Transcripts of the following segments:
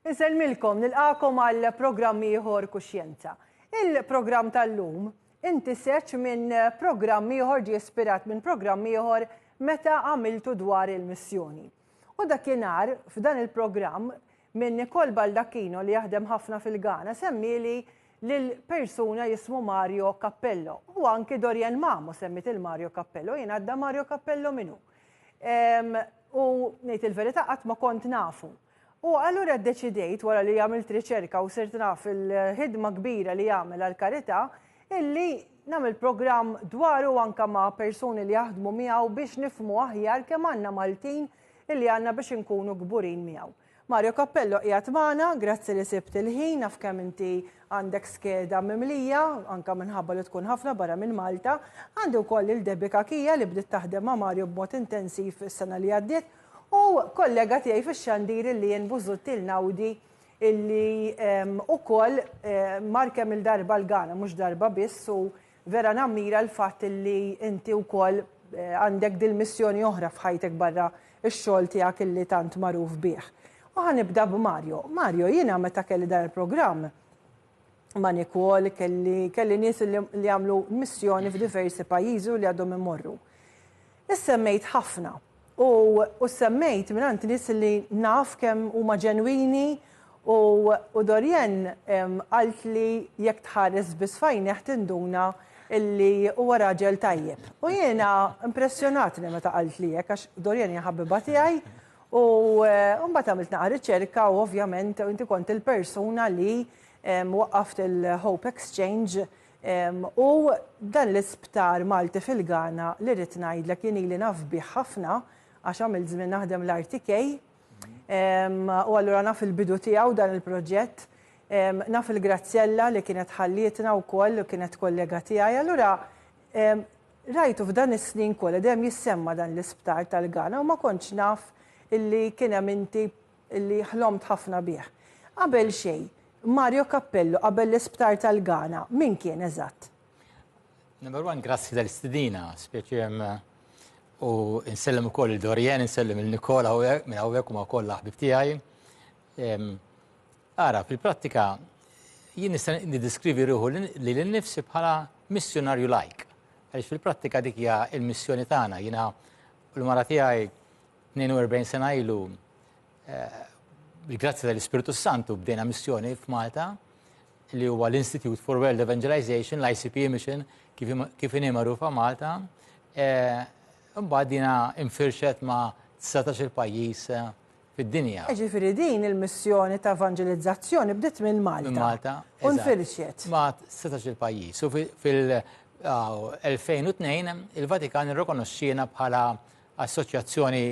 Insellmilkom nilqakom għal programm ieħor Kuxjenza. Il-programm tal-lum inti seċ minn programm ieħor ġie ispirat minn programm ieħor meta għamiltu dwar il-missjoni. U dakinhar, f'dan il-programm, minn Nicole Baldacchino li jaħdem ħafna fil-Ghana semmieli lil persuna jismu Mario Cappello. U anki Dorian Mamo semmiet il Mario Cappello, jien għadda Mario Cappello minu. U ngħid il-verità qatt ma kont nafu. U allura ddeċidejt, wara li għamilt riċerka u sirt naf il-ħidma kbira li jagħmel għall-karità, illi nagħmel programm dwaru anke ma' persuni li jaħdmu miegħu biex nifhmu aħjar kemm għandna Maltin illi għandna biex inkunu kburin miegħu. Mario Cappello qiegħed magħna, grazzi li sibt il-ħin, naf kemm inti għandek skeda mimlija, anke minħabba li tkun ħafna barra minn Malta. Għandi wkoll lil Debbie Cachia li bdiet taħdem ma' Mario b'mod intensiv is-sena li għaddiet U kollega tiegħi fix-xandir illi jien Busuttil Einaudi illi ukoll mar kemm-il darba l-Ghana, mhux darba biss u vera nammira l-fatt illi inti wkoll għandek dil-missjoni oħra f'ħajtek barra x-xogħol tiegħek illi tant magħruf bih. U ħa nibda b'Mario. Mario, jiena meta kelli dan il-programm, Manikol, kelli, kelli nies li għamlu missjoni f'diversi pajjiżi li għadhom imorru. Issemmejt ħafna u, u semmejt minn għand nies li naf kemm huma ġenwini u, u Dorien qalt li jekk tħares biss fajneħ tinduna illi huwa raġel tajjeb. U jiena impressjonatni meta qalt li hekk għax Dorien hija ħabiba tiegħi U eh, mbagħad għamilt naqa' riċerka u ovvjament inti kont il-persuna li waqqaft il-Hope Exchange u dan l-isptar Malti fil-Ghana li rrid ngħidlek jien ili naf bih ħafna għax għamilt żmien naħdem l-RTK u allura naf il-bidu tiegħu dan il-proġett, naf il-Graziella li kienet ħallietna wkoll u kienet kollega tiegħi, allura rajtu f'dan is-snin kollha dejjem jissemma' dan l-isptar tal-Ghana u ma kontx naf illi kien hemm inti li ħlomt ħafna bih. Qabel xejn, Mario Cappello, qabel l-Isptar tal-Ghana, min kien eżatt? Number one, grazzi tal-istidina, spieċi jem u nsellem u koll il-Dorien, nsellem il-Nikola u minn għawek u ma koll laħbib tijaj. Ara, fil-prattika, jien nista' niddiskrivi ruħu li l-nifsi bħala missjonarju lajk. Għaliex fil-prattika dik hija il-missjoni tagħna, jiena l-mara tiegħi 42 sena ilu, bil-grazzi eh, tal-Ispirtu Santu, bdejna missjoni f'Malta li huwa l-Institute for World Evangelization, l-ICP Mission, kif inhi magħrufa Malta. Eh, mbagħad dina infirxet ma' 19 il-pajjiż eh, fid-dinja. Ġifiri din il-missjoni ta' evangelizzazzjoni bdiet minn Malta. Malta. Unfirxet. Ma' 19 il-pajjiż. U fil- 2002 il-Vatikan irrikonoxxiena bħala Assoċjazzjoni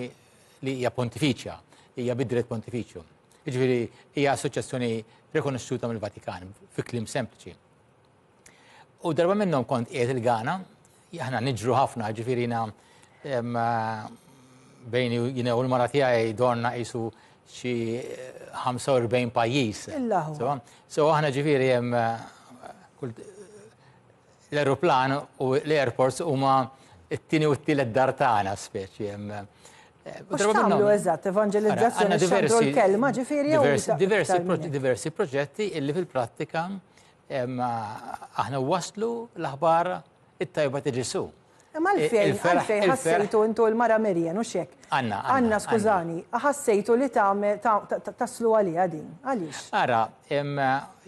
li hija pontifiċja, hija bid-dritt pontifiċju. Jiġifieri hija assoċjazzjoni rikonoxxuta mill-Vatikan, fi kliem sempliċi. U darba minnhom kont qiegħed il-Gana, aħna niġru ħafna, ġifieri bejn jina u l-mara tiegħi dorna qisu xi 45 pajjiż. So aħna ġifieri hemm L-ajruplan u l-airports huma t-tieni u t-tielet dar tagħna speċi. U x'tagħmlu eżatt, evanġelizzazzjoni xandru l-kelma ġifieri diversi proġetti illi fil-prattika aħna waslu l-aħbar it-tajba ta' Ġesu. Imma għalfejn, għalfejn ħassejtu intu il-mara Merjen, u xek? Anna, Anna, skużani, ħassejtu li taslu għalija din, għalix? Ara,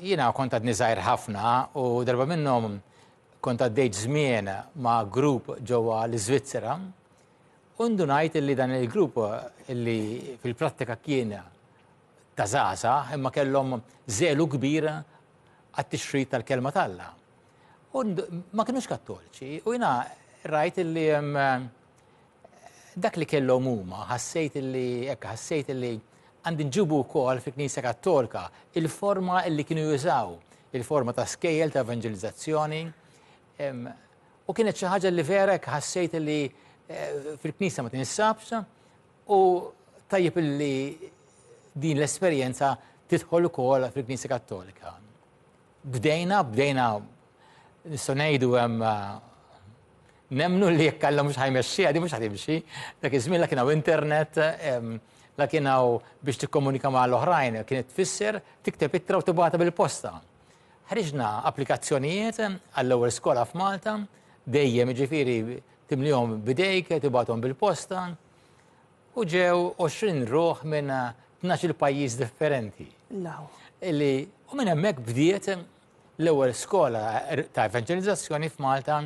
jina kont għadni zaħir ħafna u darba minnom kont għaddejt żmien ma' grupp ġewwa l-Iżvizzera u ndunajt li dan il-grupp li fil-prattika kien ta' zaza imma kellhom żelu kbir għat-tixrid tal-kelma talla. U ma kinux kattoliċi, u jina rajt illi dak li kellhom huma, ħassejt illi, ekk ħassejt illi għandi nġibu wkoll fi Knisja Kattolika il-forma illi kienu jużaw, il-forma ta' skejjel ta' evangelizzazzjoni. U kienet xi ħaġa li verek ħassejt illi eh, fil-Knisja ma tinsabx u tajjeb illi din l-esperjenza tidħol ukoll fil-Knisja Kattolika. Bdejna, bdejna nistgħu ngħidu hemm nemnu li jekk Alla mhux ħajmexxi, għadi mhux ħatimxi, dak iż-żmien la kien hawn internet, la kien hawn biex tikkomunika ma' l-oħrajn, kienet tfisser tikteb ittra u tibgħata bil-posta. Ħriġna applikazzjonijiet għall-ewwel skola f'Malta, dejjem ġifieri timlihom bidejk, tibgħathom bil-posta. U ġew 20 ruħ minn 12 pajjiż differenti. Law. Li u minn hemmhekk bdiet l-ewwel skola ta' evanġelizzazzjoni f'Malta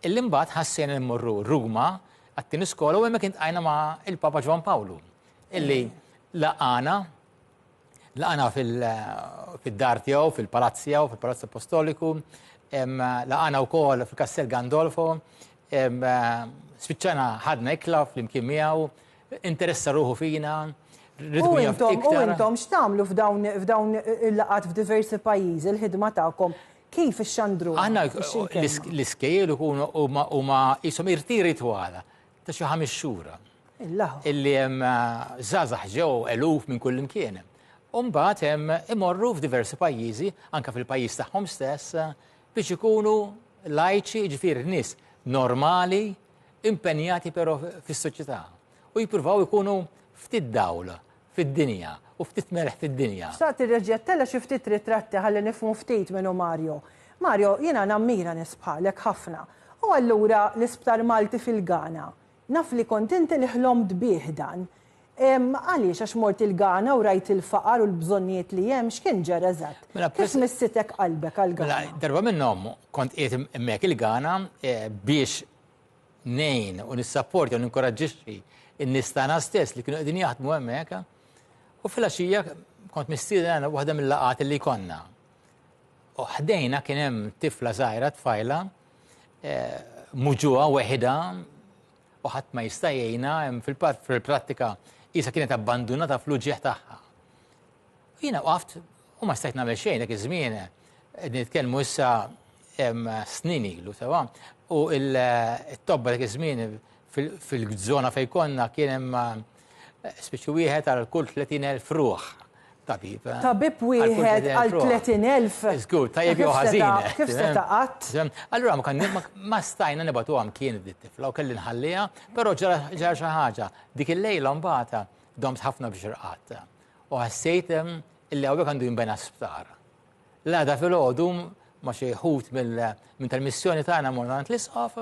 illi mbagħad ħassejna li mmorru Ruma għat-tieni skola u hemmhekk intqajna ma' il-Papa Ġwan Pawlu illi laqana Laqana fid-dar tiegħu, fil-palazz tiegħu, fil-Palazz Apostoliku, laqana wkoll fil-Kastell Gandolfo, spiċċana ħadna ikla flimkien miegħu, interessa ruħu fina, U intom x'tagħmlu f'dawn il-laqat f'diversi pajjiżi, il-ħidma tagħkom kif ixxandru? Aħna l-iskejjel ikunu huma qishom irtiri twala. ta' xi ħames xhur illi hemm żgħażagħ ġew eluf minn kullimkien. U mbagħad hemm imorru f'diversi pajjiżi, anke fil-pajjiż tagħhom stess, biex ikunu lajċi, jiġifieri nies normali, impenjati però fis-soċjetà. U jippruvaw ikunu ftit dawl fid-dinja, u ftit melħ fid-dinja. Xtaqt irreġġgħet tella' xi ftit ritratti ħalli nifhmu ftit min hu Mario. Mario, jiena nammira nies bħalek ħafna. U allura l-Isptar Malti fil-Ghana. Naf li kont inti li ħlomt bih dan. Għaliex għax mort il-Ghana u rajt il-faqar u l-bżonnijiet li hemm, x'kien ġara eżatt? Mela, Kif missitek qalbek għall-Ghana? Mela, darba minnhom kont qiegħed hemmhekk il-Ghana biex ngħin u nissapportja u ninkoraġġixxi n-nies tagħna stess li kienu qegħdin jaħdmu hemmhekk. U fil-għaxija kont mistieden għal waħda mill-laqgħat li konna. U ħdejna kien hemm tifla żgħira tfajla eh, muġuha weħida u ħadd ma jista' jgħinha hemm fil-prattika isa kienet abbandunata fl-uġieħ tagħha. U jiena waqaft U ma stajt nagħmel xejn dak iż-żmien qed nitkellmu issa snin ilu sewa. U t-tobba dak iż-żmien fil-żona fejn konna kien hemm eh, spiċċu wieħed għal kull 30,000 ruħ tabib. Eh? Tabib wieħed għal 30,000. Żgur, tajjeb jew ħażin. Kif se eh? taqat? Allura ma kan ma stajna nibatu għam kien id-tifla u kelli nħallija, però ġara xi ħaġa. Dik il-lejla mbagħad domt ħafna biex irqat. U ħassejt illi hawnhekk għandu jinbena sptar. L-għada filgħodu ma' xi ħut minn tal-missjoni tagħna morna għand l-isqof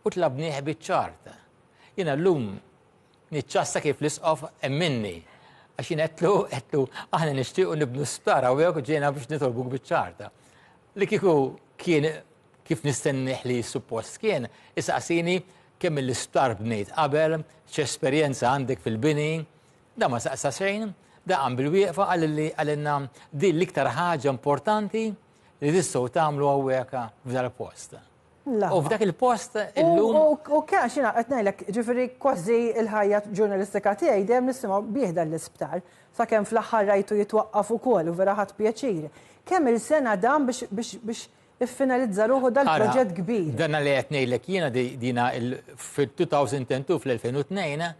u tlabnieh biċ-ċart. Jiena llum niċċassa kif l-isqof emminni għax jien qedtlu qedtlu aħna nixtiequ nibnu sptar hawnhekk ġejna biex nitolbuk biċ-ċarta. Li kieku kien kif nistennih li suppost kien, isaqsini kemm l-isptar bnejt qabel, x'esperjenza għandek fil-bini, Dan ma saqsa xejn, dan qam bil-wieqfa qalilli qalilna din l-iktar ħaġa importanti li tistgħu tagħmlu hawnhekk f'dal post. U f'dak il-post illum. U kien xina qed ngħidlek, ġifieri kważi l-ħajja ġurnalistika tiegħi dejjem nisimgħu bih dan l-isptar. Sakemm fl-aħħar rajtu jitwaqqaf ukoll u vera ħadt pjaċir. Kemm il-sena dan biex iffinalizza ruħu dal-proġett kbir. Dan li qed ngħidlek jiena dina fil-2002 fl-2002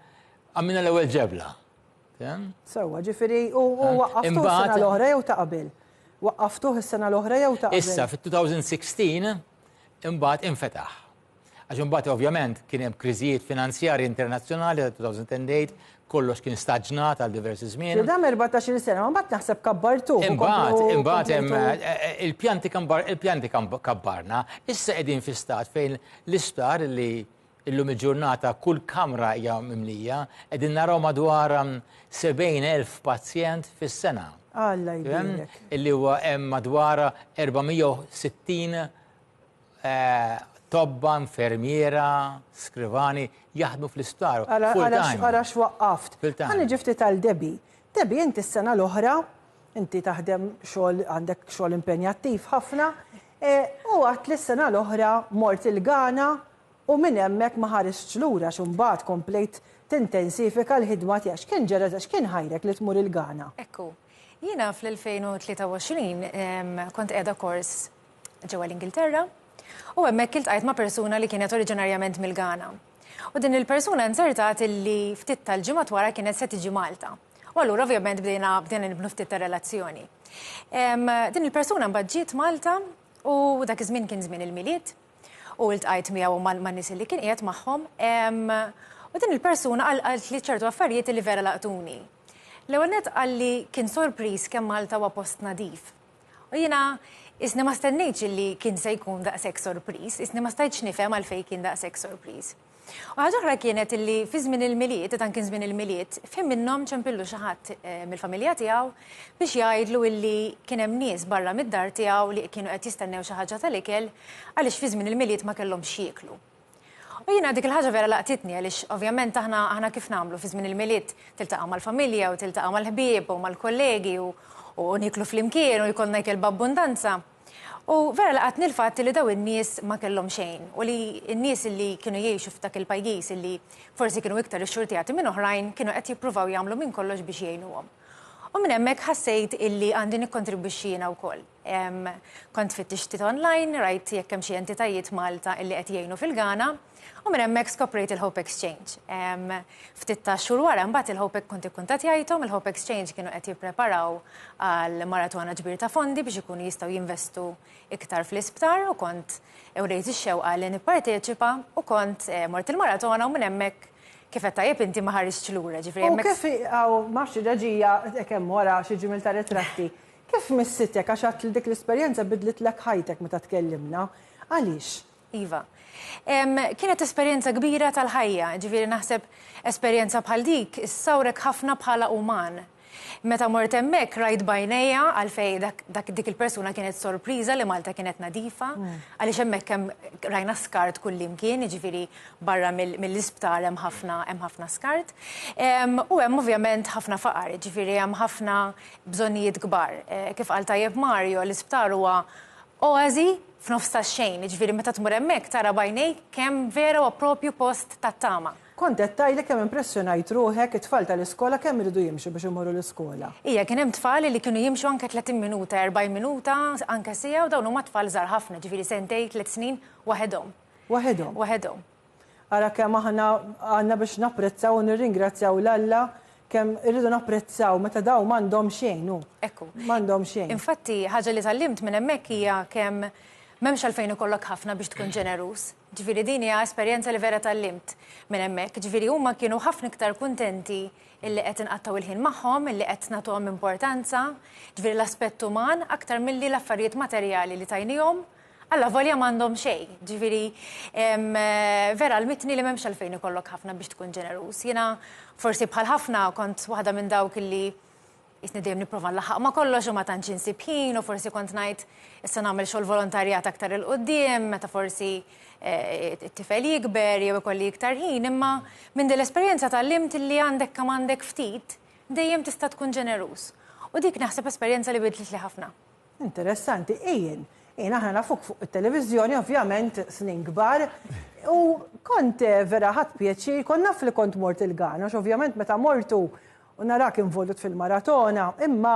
Għamilna l-ewwel ġebla. Sewwa, ġifieri u waqqaftu s-sena l-oħra jew ta' qabel. Waqqaftuh is-sena l-oħra jew ta' qabel. Issa fit-2016 imbagħad infetaħ. Għax imbagħad ovvjament kien hemm kriżijiet finanzjarji internazzjonali ta' 2008, kollox kien staġnat għal diversi żmien. Dam 14 sena, ma mbagħad naħseb kabbartu. Imbagħad, imbagħad hemm eh, eh, il-pjanti il-pjanti kabbarna, issa qegħdin fi stat fejn l-isptar li Illum il-ġurnata kull kamra hija mimlija, qegħdin naraw madwar 70,000 pazjent fis-sena. Alla jbierek. Illi huwa hemm madwar 460 tobba, infermiera, skrivani jaħdmu fl-isptar. Ara x'waqqaft. Ħa niġi ftit għal Debbie. Debbie inti s-sena l-oħra, inti taħdem xogħol għandek xogħol impenjattiv ħafna, u għedt li s-sena l-oħra mort il-Ghana U minn hemmhekk ma ħaristx lura għax imbagħad komplejt tintensifika l-ħidma tiegħek. X'kien ġara eżatt? X'kien ħajrek li tmur il-Ghana? Ekku. Jiena fl-2023 kont qiegħda kors ġewwa l-Ingilterra u hemmhekk iltqajt ma' persuna li kienet oriġinarjament mill-Ghana. U din il-persuna nzertat illi ftit tal-ġimgħat wara kienet se tiġi Malta. U allura ovvjament bdejna bdejna nibnu ftit ta' relazzjoni. Din il-persuna mbagħad ġiet Malta u dak iż-żmien kien żmien il-Milied U ltqajt miegħu u man-nies li kien qiegħed magħhom. U din il-persuna qaltli ċertu affarijiet li vera laqtuni. L-ewwel nett qalli kien sorpriż kemm Malta huwa post nadif. U jiena isni ma stennejtx li kien se jkun daqshekk sorpriż, isni ma stajtx nifhem għalfejn kien daqshekk sorpriż. U ħaġa oħra kienet li fi żmien il-Milied, dan kien żmien il-Milied, f'ħin minnhom ċempillu xi ħadd eh, mill-familja tiegħu biex jgħidlu illi kien hemm nies barra mid-dar tiegħu li kienu qed jistennew xi ħaġa tal-ikel għaliex fi żmien il-Milied ma kellhom xieklu. U jiena dik il-ħaġa vera laqtitni għaliex ovvjament aħna aħna kif nagħmlu fi żmien il-milied tiltaqa' mal-familja u tiltaqa' mal-ħbieb u mal-kollegi u niklu flimkien u jkollna jkel b'abbundanza. U vera laqatni l-fatt li dawn in-nies ma kellhom xejn u li n-nies li kienu jgħixu f'dak il-pajjiż li forsi kienu iktar ixxurtjati minn oħrajn kienu qed jippruvaw jagħmlu minn kollox biex jgħinuhom. U minn hemmhekk ħassejt illi għandi nikkontribwixxi jiena wkoll. Kont fittixt ftit online, rajt jekk hemm xi entitajiet Malta illi qed jgħinu fil-Ghana, U minn hemmhekk skoprejt il-Hope Exchange. Ftit ta' xhur wara mbagħad il-Hope kont ikkuntattjajthom, il-Hope Exchange kienu qed jippreparaw għal maratona ġbir ta' fondi biex ikunu jistgħu jinvestu iktar fl-isptar u kont ewrejt ix-xewqa li nipparteċipa u kont eh, mort il-maratona u minn hemmhekk kif qed tajjeb inti ma ħarisx lura ġifieri. U kif għaw mafx ġaġija kemm wara xi ġimil ta' ritratti. Kif missitek għax għat dik l-esperjenza bidlitlek ħajtek meta tkellimna. Għaliex? Iva. Kienet esperjenza kbira tal-ħajja, ġifieri naħseb esperjenza bħal dik issawrek ħafna bħala uman. Meta mort hemmhekk rajt b'għajnejja għalfejn dak dik il-persuna kienet sorpriża li Malta kienet nadifa, għaliex hemmhekk hemm rajna skart kullimkien, jiġifieri barra mill-isptar hemm ħafna hemm ħafna skart. U hemm ovvjament ħafna faqar, jiġifieri hemm ħafna bżonnijiet kbar. Kif qal tajjeb Mario, l-isptar huwa Oasi f'nofs tax-xejn, jiġifieri meta tmur hemmhekk tara b'għajnejk kemm vera huwa proprju post tat-tama. Kont qed tgħidli kemm impressjonajt ruħek, it-tfal tal-iskola kemm iridu jimxu biex imorru l-iskola? Ija, kien hemm tfal li kienu jimxu anke tletin minuta, erbgħin minuta, anke siegħa u dawn huma tfal żgħar ħafna, jiġifieri sentejn, tliet snin, waħedhom. Waħedhom? Waħedhom. Ara kemm aħna għandna biex napprezzaw u nirringrazzjaw 'l Alla, kemm irridu napprezzaw meta dawn m'għandhom xejn, hu. Ekku. M'għandhom xejn. Infatti, ħaġa li tgħallimt minn hemmhekk hija kemm m'hemmx għalfejn ikollok ħafna biex tkun ġeneruż. Ġifieri din hija esperjenza li vera tgħallimt minn hemmhekk. Ġifieri huma kienu ħafna iktar kuntenti illi qed inqattgħu l-ħin magħhom, illi qed nagħtuhom importanza, ġifieri l-aspett uman, aktar milli l-affarijiet materjali li tajniehom Alla volja m'għandhom xejn. Ġifieri, vera għallmitni li m'hemmx għalfejn ikollok ħafna biex tkun ġeneruż. Jiena forsi bħal ħafna kont waħda minn dawk illi qisni dejjem nipprova nlaħħaq ma' kollox u ma tantx insib ħin u forsi kont ngħid issa nagħmel xogħol volontarjat aktar 'il quddiem meta forsi eh, it-tifel jikber jew ikolli iktar ħin, imma minn din l-esperjenza tgħallimt li għandek kemm għandek ftit dejjem tista' tkun ġeneruż. U dik naħseb esperjenza li bidlet li ħafna. Interessanti, Ian. Ian, aħna nafuk fuq it-televiżjoni, ovvjament, snin kbar, u kont eh, vera ħadd pjaċir, kont naf li kont mort il-Ghana, għax ovvjament meta mortu u narak involut fil-maratona, imma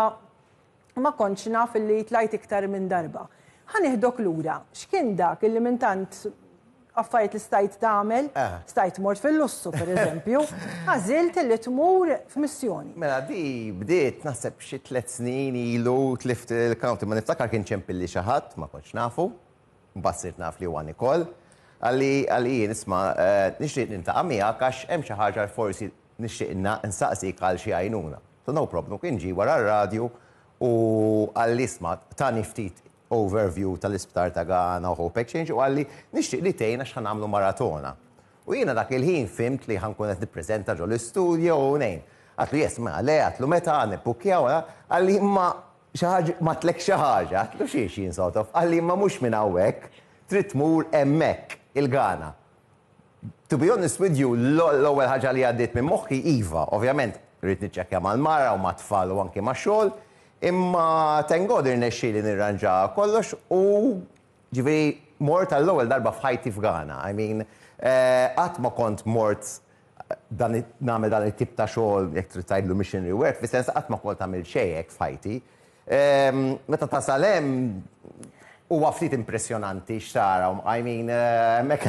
ma kontx naf li tlajt iktar minn darba. Ħaniħdok lura, x'kien dak illi minn tant affarijiet li stajt tagħmel, stajt mort fil-lussu pereżempju, għażilt li tmur f'missjoni. Mela di bdiet naħseb xi tliet snin ilu tlift il-county, ma niftakar kien ċempilli xi ħadd, ma kontx nafu, mbagħad sirt naf li huwa Nicole, qalli qalli jien isma' nixtieq niltaqa' miegħek għax hemm xi ħaġa forsi nixtieq nsaqsik għal xi għajnuna. So no problem, kien ġie wara r-radju u qalli isma' tani ftit overview tal-isptar ta' Ghana u Hope Exchange u qalli, Nixtieq li tgħin għax ħa nagħmlu maratona. U jiena dak il-ħin fimt li ħa nkun qed nippreżenta ġol-istudio u ngħin. Għatlu, Yes, mela le, għatlu, Meta ħa nibbukkjaw? Qalli, Imma xi ħaġ bgħatlek xi ħaġa. Għatlu, Xiex, jien sort of. Qalli, Imma mhux minn hawnhekk, trid tmur hemmhekk, il-Ghana. To be honest with you, l-ewwel ħaġa li għaddiet minn moħħi, iva, ovvjament rrid niċċekkja mal-mara u mat-tfal u anki max-xogħol, imma thank God irnexxieli nirranġa kollox u ġifieri mort għall-ewwel darba f'ħajti f'Ghana. I mean, eh, qatt ma kont mort dan nagħmel dan it-tip ta' xogħol jekk trid tgħidlu missionary work, fis-sens qatt ma kont għamilt xejn hekk f'ħajti. Meta tasal hemm huwa ftit impressjonanti x'tara u mqajmin hemmhekk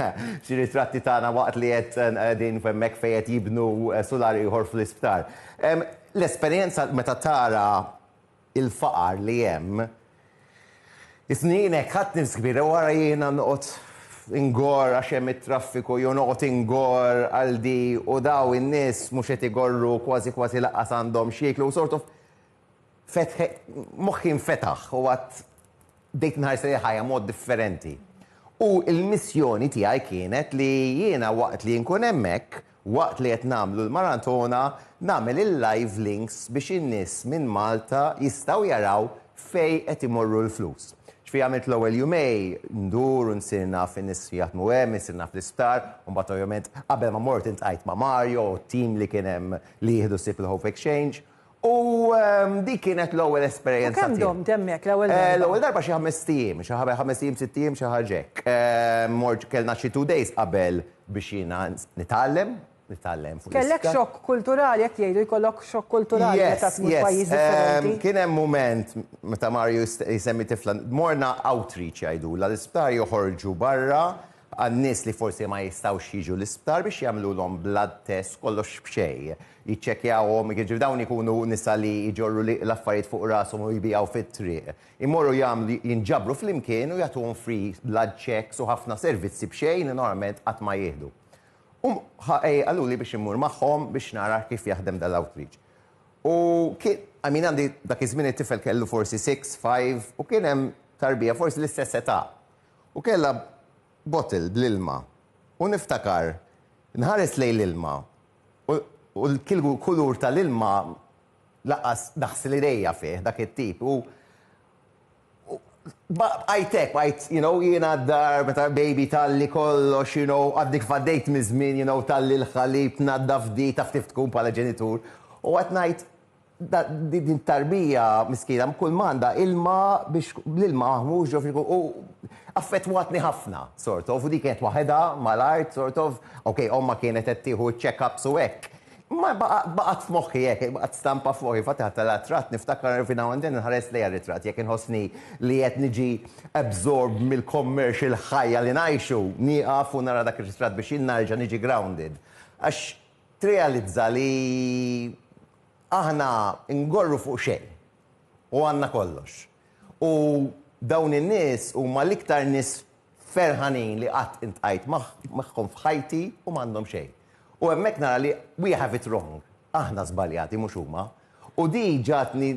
xi ritratti tagħna waqt li qed qegħdin hemmhekk fejn qed jibnu sular ieħor fl-isptar. L-esperjenza meta tara l-faqar li hemm, isni jien hekk ħadt nifs kbira u ara jiena noqgħod ingorr għax hemm it-traffiku jew noqgħod ingorr għal di u dawn in-nies mhux qed igorru kważi kważi lanqas għandhom x'jieklu sort of Moħħi nfetaħ u għadt bdejt inħares lejn il-ħajja mod differenti. U l-missjoni tiegħi kienet li jiena waqt li nkun hemmhekk, waqt li qed nagħmlu l-maratona, nagħmel il-live links biex in-nies minn Malta jistgħu jaraw fejn qed imorru l-flus. Ġifieri għamilt l-ewwel jumej ndur u nsir naf in-nies li jaħdmu hemm, nsir naf l-isptar, u mbagħad ovvjament qabel ma mort iltqajt ma' Mario u t-tim li kien hemm li jieħdu ħsieb il-Hope Exchange. U dik kienet l-ewwel esperjenza. U kemm domt hemmhekk l-ewwel darba? L-ewwel darba xi ħames ijiem, xi ħames ijiem, sitt ijiem, xi ħaġa hekk. Mort kellna xi two days qabel biex jiena nitgħallem, nitgħallem fuq l-iskart. Kellek xokk kulturali hekk jgħidu jkollok xokk kulturali meta tmur f'pajjiż differenti. Kien hemm mument meta Mario jsemmi tifla, morna outreach jgħidulha, l-isptar joħorġu barra għan-nies li forsi ma jistgħux jiġu l-isptar biex jagħmlulhom blood test kollox b'xejn. jiċċekkjawhom, jiġifieri dawn ikunu nisa li jġorru l-affarijiet fuq rashom u jbigħu fit-triq. Imorru jagħmlu jinġabru flimkien u jagħtuhom free blood checks u ħafna servizzi b'xejn li normalment qatt ma jieħdu. U qaluli biex immur magħhom biex nara kif jaħdem dan l-outreach. U kien, I mean għandi dak iż-żmien it-tifel kellu forsi six, five u kien hemm tarbija forsi l-istess età u kellha bottle bl-ilma u niftakar nħares lejn l-ilma U l-kulur tal-ilma lanqas naħsel idejja fih, dak it-tip. U bqajt hekk, bqajt, you know, jiena d-dar meta baby talli kollox, you know, għadni kif għaddejt miż-żmien, you know, talli l-ħalib, tnaddaf di, taf kif tkun bħala ġenitur. U qgħedt ngħid, Din it-tarbija miskina kull ma għandha ilma biex l-ilma mhux ġo frigo u affettwatni ħafna sort of u dik kienet waħedha mal-art sort of ok ommha kienet qed tieħu check-ups u hekk. Imma baqgħet f'moħħi hekk, baqgħet stampa f'moħħi, infatti ħadt għaliha tratt niftakar every now and then inħares lejha r-ritratt jekk inħossni li qed niġi absorbed mill-commercial ħajja li ngħixu, nieqaf u nara dak ir-ritratt biex jien nerġa' niġi grounded. Għax tirrealizza li Aħna ngorru fuq xejn u għandna kollox. U dawn in-nies huma l-iktar nies ferħanin li qatt iltqajt magħhom f'ħajti u m'għandhom xejn. U hemmhekk nara li we have it wrong, aħna żbaljati mhux huma. U di ġagħtni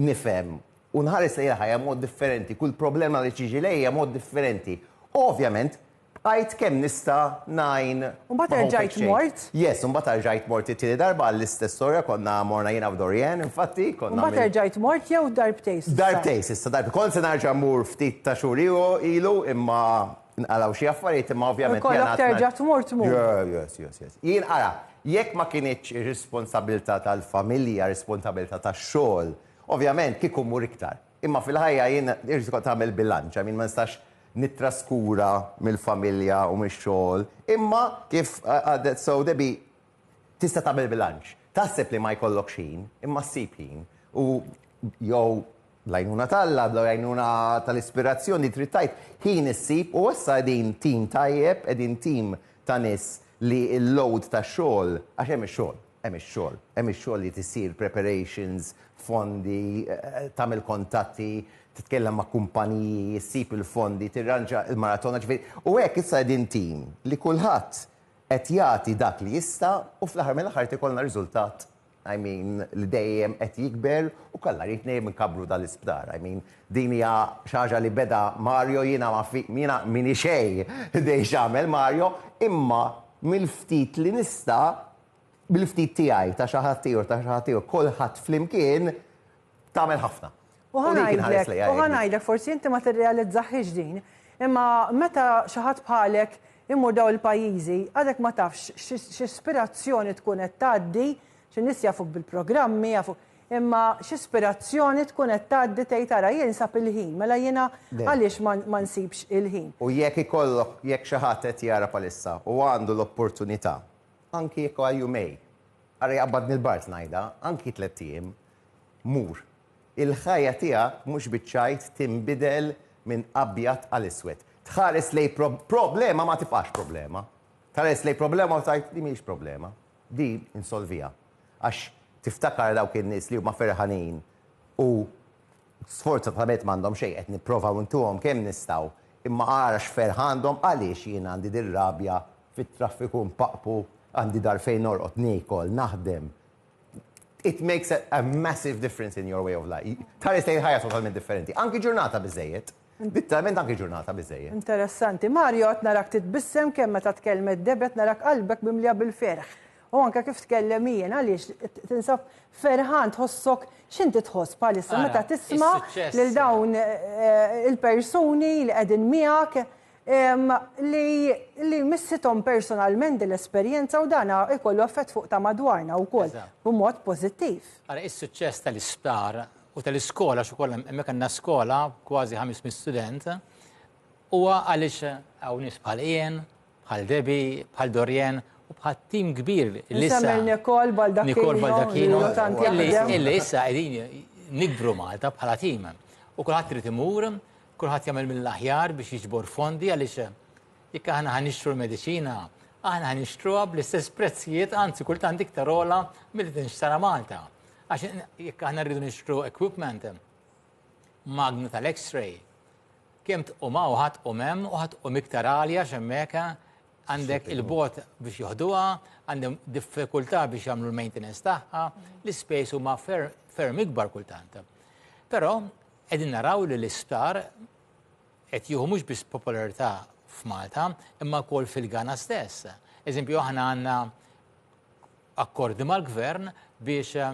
nifhem u nħares lejn il-ħajja mod differenti, kull problema li tiġi lejja mod differenti. U ovvjament Bqajt kemm nista' ngħin ma' Home Exchange. U mbagħad erġajt mort? Yes, u mbagħad erġajt mort it-tieni darba għall-istess storja, konna morna jiena u Dorianne, infatti, konna. U mbagħad erġajt mort jew darbtejn s'issa? Darbtejn s'issa, darbtejn. Kont se nerġa' mmur ftit ta' xhur ilu imma nqalgħu xi affarijiet imma ovvjament jiena. U jkollok terġa' tmur, tmur. Yeah, yes, yes, yes. Jien, ara, jekk ma kinitx ir-responsabbiltà tal-familja, responsabbiltà tax-xogħol, ovvjament kieku mmur iktar. Imma fil-ħajja jien irid ikoll tagħmel bilanċ, I mean ma nistax nittraskura mill-familja u mix-xogħol. Imma kif għadet sew Debbie, tista' tagħmel bilanċ. Taħseb li ma jkollokx ħin, imma ssib ħin. U jew bl-għajnuna t'Alla, bl-għajnuna tal-ispirazzjoni trid tgħid, ħin issib u issa qegħdin tim tajjeb, qegħdin tim ta' nies li l-load tax-xogħol, għax hemm ix-xogħol. Hemm ix-xogħol. Hemm ix-xogħol li tisir, preparations, fondi, tagħmel kontatti, titkellem ma' kumpaniji, issib il-fondi, tirranġa l-maratona, ġifieri. U hekk issa qegħdin tim li kulħadd qed jagħti dak li jista' u fl-aħħar mill-aħħar qed ikollna riżultat, I mean, li dejjem qed jikber u kalla rrid dejjem inkabbru dan l-isptar. I mean, din hija xi ħaġa li beda Mario, jiena ma jiena minix xejn biex nagħmel Mario, imma mill-ftit li nista' bil-ftit tiegħi, ta' xi ħadd ieħor, ta' xi ħadd ieħor, kulħadd flimkien tagħmel ħafna. U hu dik inħares lejha. U ħa ngħidlek, forsi inti ma tirrealizzahiex din, imma meta xi ħadd bħalek imur dawn il-pajjiżi, għadek ma tafx x'ispirazzjoni tkun qed tgħaddi, xi nies jafuk bil-programmi, jafuk, imma x'ispirazzjoni tkun qed tgħaddi tgħid ara jien sab il-ħin, mela jiena għaliex ma nsibx il-ħin. U jekk ikollok, jekk xi ħadd qed jara bħalissa u għandu l-opportunità Anki jekk għal jumej. Ara jaqbadni l-bard ngħidha, anki tlett ijiem. Mur. Il-ħajja tiegħek mhux biċ-ċajt tinbidel minn abjad għal iswed. Tħares lejn problema ma tibqax problema. Tħares lejn problema u tgħid din mhijiex problema. Di insolviha. Għax tiftakar dawk in-nies li huma ferħanin u Sfortunatament m'għandhom xejn, qed nipprovaw ntuhom kemm nistgħu, imma ara x'ferħ għandhom, għaliex jien għandi dir-rabja fit-traffiku npaqpu, għandi dar fejn norqod, niekol, naħdem. It makes a massive difference in your way of life. Tħares lejn ħajja totalment differenti. Anki ġurnata biżżejjed. Bitterment anki ġurnata biżżejjed. Interessanti. Mario qed narak titbissem kemm meta tkellmet Deb qed narak qalbek mimlija bil-ferħ. U anke kif tkellem Ian għaliex tinsab ferħan tħossok x'inti tħoss bħalissa meta tisma' lil dawn il-persuni li qegħdin miegħek li missithom personalment din l-esperjenza u dan ikollu effett fuq ta' madwarna wkoll b'mod pożittiv. Ara is-suċċess tal-isptar u tal-iskola għax ukoll hemmhekk għandna skola kważi 500 student huwa għaliex hawn nies bħal Ian, bħal Debi, bħal Dorien u bħal tim kbir li issa. Nikol Baldacchino. Nikol Baldacchino. Illi issa qegħdin nikbru Malta bħala tim. U kulħadd trid imur, kulħadd jagħmel mill-aħjar biex jiġbor fondi għaliex jekk aħna ħanixtru l-mediċina, aħna ħanixtruha bl-istess prezzijiet, anzi kultant iktar ola mill-li tinxtara Malta. Għax jekk aħna rridu nixtru equipment, magna tal-X-ray, kemm tqum hawn ħadd u hemm u ħadd tqum iktar għalja x'hemmhekk għandek il-bot biex joħduha, għandhom diffikultà biex jagħmlu l-maintenance tagħha, l-ispejs huma ferm ikbar kultant. Però qegħdin naraw li l-isptar qed jieħu mhux biss popolarità f'Malta, imma wkoll fil-Ghana stess. Eżempju aħna għandna akkordi mal-Gvern biex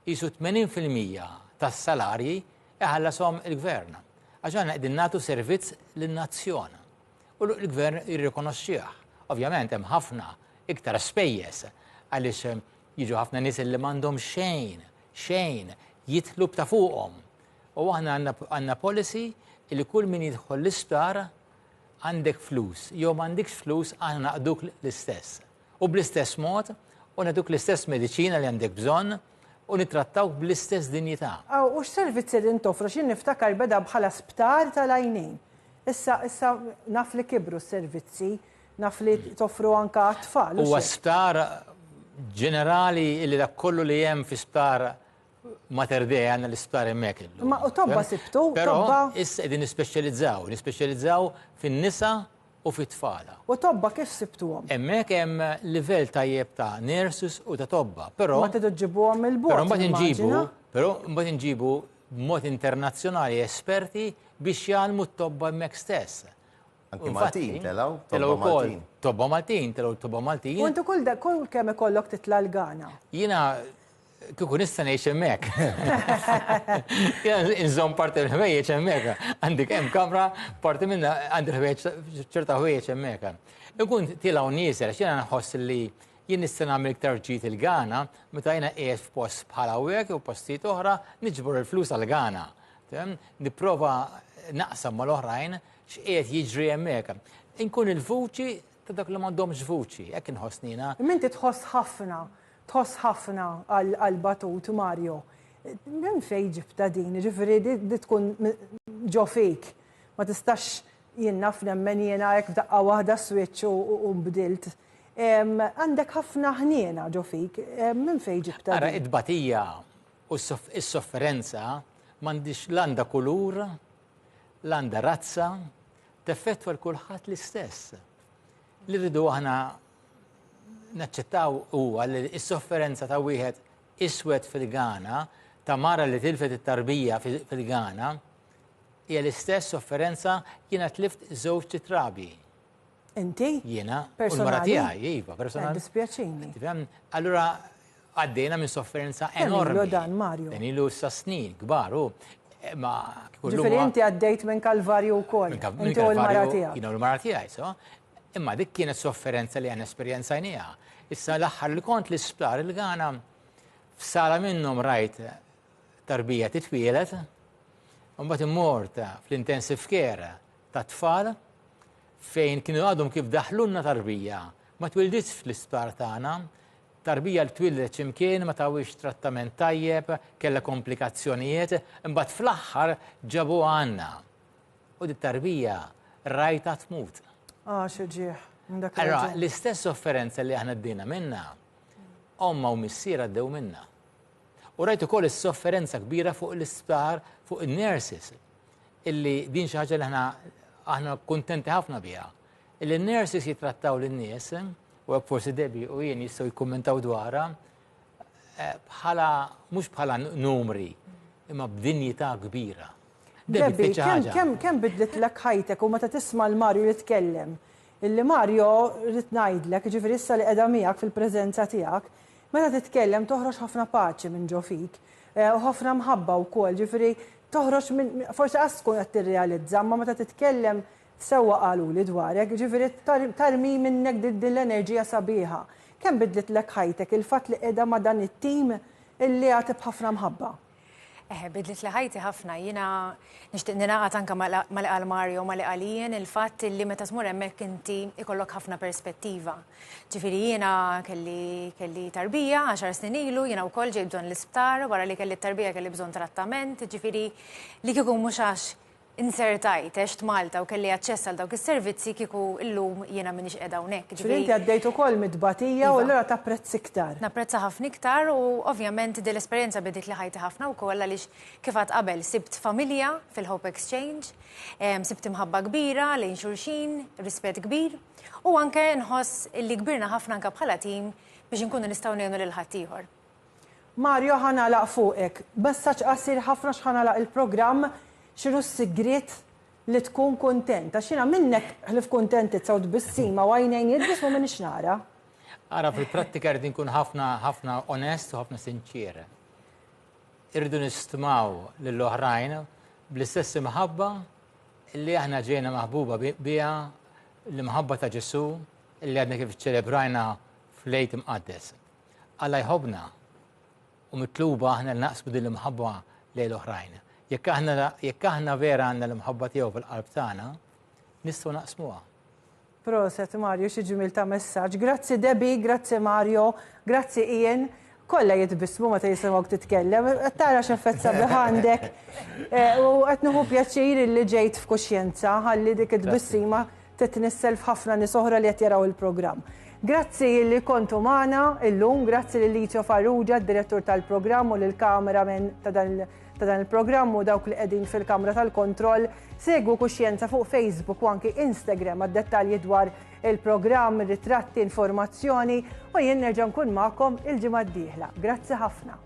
qisu 80 fil-mija tas-salarji iħallashom il-Gvern. Għax aħna qegħdin nagħtu servizz lin-nazzjon. U l-Gvern jirrikonoxxih. Ovvjament hemm ħafna iktar spejjeż għaliex jiġu ħafna nies li m'għandhom xejn, xejn, jitlu b'ta' fuqhom. U aħna għandna policy li kull min jidħol l-isptar għandek flus, jew m'għandikx flus aħna naqduk l-istess. U bl-istess mod, u nagħtuk l-istess mediċina li għandek bżonn, u nittrattawk bl-istess dinjità. Aw, u x'servizzi qegħdin toffru? X'jien niftakar beda bħala sptar tal-għajnejn. Issa, issa naf li kibru s-servizzi, naf li toffru anke għat-tfal. Huwa sptar ġenerali li dak kollu li hemm fi sptar Mater Dei għanna l-isptar emmek illum. Ma u tobba sibtu, tobba. Issa edin nispeċjalizzaw, nispeċjalizzaw fin-nisa u fit-tfala. U tobba kif sibtuhom? Emmek hemm livell tajjeb ta' nurses u ta' tobba, però. Ma tidu ġibuhom il-bot. Però mbagħad inġibu, però mbagħad inġibu b'mod internazzjonali esperti biex jgħalmu t-tobba hemmhekk stess. Anki Maltin, telaw, telaw Maltin. Tobba Maltin, telaw tobba Maltin. Kontu kull kull kemm ikollok titla l-gana. Jina Kieku nista' ngħix hemmhekk. Inżomm parti mill-ħwejjeġ hemmhekk. Għandik hemm kamra parti minna għandi l-ħwejjeġ ċerta ħwejjeġ hemmhekk. Ikun tilgħu nieżel għax jiena nħoss li jien nista' nagħmel iktar ġid il-Ghana meta jiena qiegħed f'post bħal hawnhekk jew postijiet oħra niġbor il-flus għal Ghana. Nipprova naqsam mal-oħrajn x'qiegħed jiġri hemmhekk. Inkun il-vuċi ta' dak li m'għandhomx vuċi, hekk inħossnina. Minti tħoss ħafna Tħoss ħafna għal batut Mario. Minn fejn ġibtha din? Jiġifieri li tkun ġo fik. Ma tistax jien naf nemmen jiena hekk f'daqqa waħda switch u nbdilt. Għandek ħafna ħniena ġo fik. Minn fejn ġibtha din? Ara, it-tbatija u s-sofferenza m'għandhiex la għandha kulur, la għandha razza, teffettwa 'l kulħadd l-istess. Li rridu aħna naċċettaw huwa li s-sofferenza ta' wieħed iswed fil-Ghana, ta' mara li tilfet it-tarbija fil-Ghana, hija l-istess sofferenza jiena tlift żewġ titrabi. Inti? Jiena, u l-mara tiegħi, iva, personali. Dispjaċini. Allura, Għaddejna minn sofferenza enormi. Kemm ilu dan, Mario? Dan ilu issa snin kbar u ma Ġifieri inti għaddejt minn kalvarju wkoll. Inti u l-mara tiegħek. Jiena u l-mara tiegħi, so. Imma dik kienet sofferenza li aħna esperjenzajnieha. Issa l-aħħar li kont l-isptar il-Ghana f'sala minnhom rajt tarbija titwielet, mbagħad immort fl-intensive care ta' tfal fejn kienu għadhom kif daħlunna tarbija ma twilditx fl-isptar tagħna Tarbija li twieldet x'imkien ma tawhiex trattament tajjeb, kellha komplikazzjonijiet, imbagħad fl-aħħar ġabuha għandna. U dit-tarbija rajtha tmut. Ah, xi ġieħ. Allora, l-istess sofferenza li aħna d-dina minna, omma u missier għaddew minna. U rajt ukoll is-sofferenza kbira fuq l-isptar, fuq il-nurses, illi din xi ħaġa li aħna aħna kuntenti ħafna biha. Illi n-nurses jitrattaw lin-nies, u hekk forsi Debbie u jien jistgħu jikkummentaw dwarha, eh, bħala mhux bħala numri, imma b'dinjità kbira. Debbie, kemm kemm bidlet lek ħajtek u meta tisma' l-Marju jitkellem. Illi Marju rrid ngħidlek, ġifieri issa li qiegħda miegħek fil-preżenza tiegħek, meta titkellem toħroġ ħafna paċi minn ġo fik eh, u ħafna mħabba wkoll, ġifieri toħroġ minn forsi qas tkun qed tirrealizza, ma meta titkellem Sewwa qaluli dwarek, jiġifieri tarmi minnek din l-enerġija sabiħa. Kemm bidlitlek ħajtek il-fatt li qiegħda ma' dan it-tim li jagħti b'ħafna mħabba? Eħe, bidlitli ħajti ħafna. Jiena nixtieq ningħaqad anke ma' li qal Mario u ma' li qal Ian, il-fatt li meta tmur hemmhekk inti jkollok ħafna perspettiva. Ġifieri jiena kelli kelli tarbija għaxar snin ilu, jiena wkoll ġejt bżonn l-isptar, wara li kelli t-tarbija kelli bżonn trattament, ġifieri li kieku mhux għax inzertajt, għext Malta u kelli aċċess għal dawk is-servizzi kieku illum jiena m'iniex qiegħda hawnhekk. Ġifieri inti għaddejt ukoll mit-tbatija u allura tapprezz iktar. Napprezza ħafna iktar u ovvjament din l-esperjenza bidiltli ħajti ħafna wkoll għaliex kif għadt qabel sibt familja fil-Hope Exchange, sibt imħabba kbira lejn xulxin, rispett kbir u anke nħoss li kbirna ħafna anke bħala tim biex inkunu nistgħu ngħinu lil ħaddieħor. Mario ħa nagħlaq fuqek. B'messaġġ qasir ħafna x'ħa nagħlaq il-programm, x'inhu s-sigriet li tkun kuntent? Għax jiena minnek ħlief kuntentizza u tbissima u għajnejn jidbismu m'iniex nara. Ara fil-prattika rrid inkun ħafna ħafna onest u ħafna sinċier. Irridu nistmaw lil oħrajn bl-istess imħabba li aħna ġejna maħbuba biha l-imħabba ta' Ġesu li għadna kif ċelebrajna fl-Għid Imqaddes. Alla jħobbna u mitluba aħna li naqsmu din l-imħabba lejn l-oħrajn. Jekk aħna jekk aħna vera għandna l-imħabba tiegħu fil-qalb tagħna, nistgħu naqsmuha. Proset Mario, xi ġmiel ta' messaġġ. Grazzi Debbie, grazzi Mario, grazzi Ian. Kollha jitbissmu meta jisimgħuk titkellem, qed tara x'effett sabiħ għandek. Eh, u qed nieħu pjaċir li ġejt f'kuxjenza ħalli dik it-tbissima Titnissel f'ħafna nies oħra li qed jaraw il-programm. Grazzi li kontu magħna illum, grazzi lil Licio Farrugia, d-direttur tal-programm u lill-cameraman ta' dan il-programm u dawk li qegħdin fil-kamra tal-kontroll. Segwu Kuxjenza fuq Facebook u anki Instagram għad-dettalji dwar il-programm, ritratti, informazzjoni u jien nerġa' nkun magħkom il-ġimgħa d-dieħla. Grazzi ħafna.